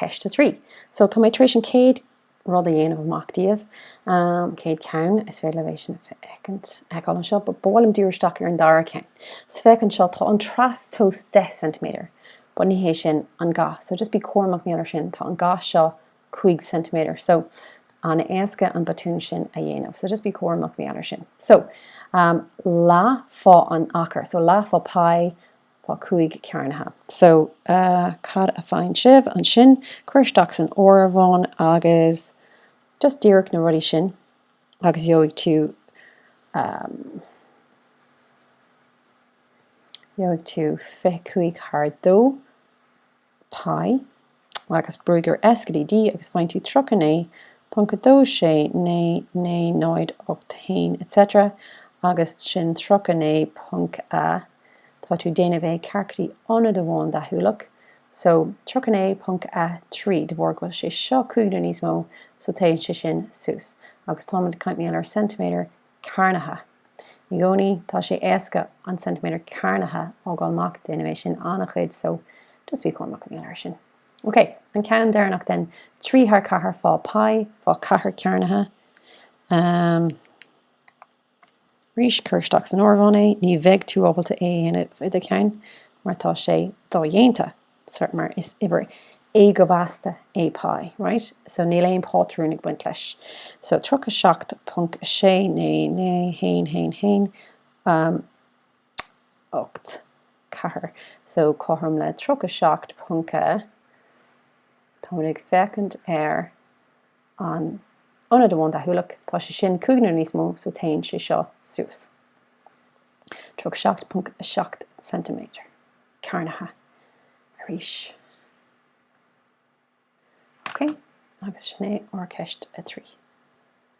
Ceist 3. So, tá mé tar éis an chéad rud a dhéanamh amach daoibh, an chéad cheann, is féidir libh é sin a fheicint, a fheiceáil anseo, but ba mhaith liom díriú isteach ar an dara ceann. So, féach anseo, tá an trastomhas 10 ceintiméadar, but ní hé sin an ga, so just bí cúramach maidir leis sin, tá an ga seo 5 ceintiméadar, so an-éasca an botún sin a dhéanamh, so just bí cúramach maidir leis sin. So, um, leath fá an achar, so leath fá pi Fá cúig cearnaithe. So, cad a faigheann sibh ansin? Cuir isteach san áireamhán agus just díreach na rudaí sin agus gheobhaidh tú, gheobhaidh tú fiche cúig thar dó. pi, agus brúigh ar S go dtí D agus faigheann tú 39.269 9081 etc agus sin 39. tá tú déanamh é ceart go dtí ionad amháin deachúlach so 39.3 de bharr go bhfuil sé seo cúig nó níos mó so téann sé sin suas agus táimid ag caint maidir le ceintiméadar cearnaithe. I gcónaí tá sé éasca an ceintiméadar cearnaithe a fhágáil amach, déanaim é sin an-chuid, so just bí cúramach maidir leis sin. Ok, an ceann deireanach then, trí thar ceathair fá pi, fá ceathair cearnaithe. Ahm. Arís, cuir isteach san áireamhán é, ní bheidh tú ábalta é a dhéanamh i do cheann mar tá sé dodhéanta. mar is uimhir éagóimheasta é pi, right? So níl aon pátrún ag baint leis. So 37.699111, 8, 4. So cothrom le 37 ponc a, táimid ag féachaint ar an ionad amháin deachúlach, tá sé sin cúig nó níos mó, so téann sé seo suas. 37.7 cm. cearnaithe arís. OK, agus sin é ar cheist a trí.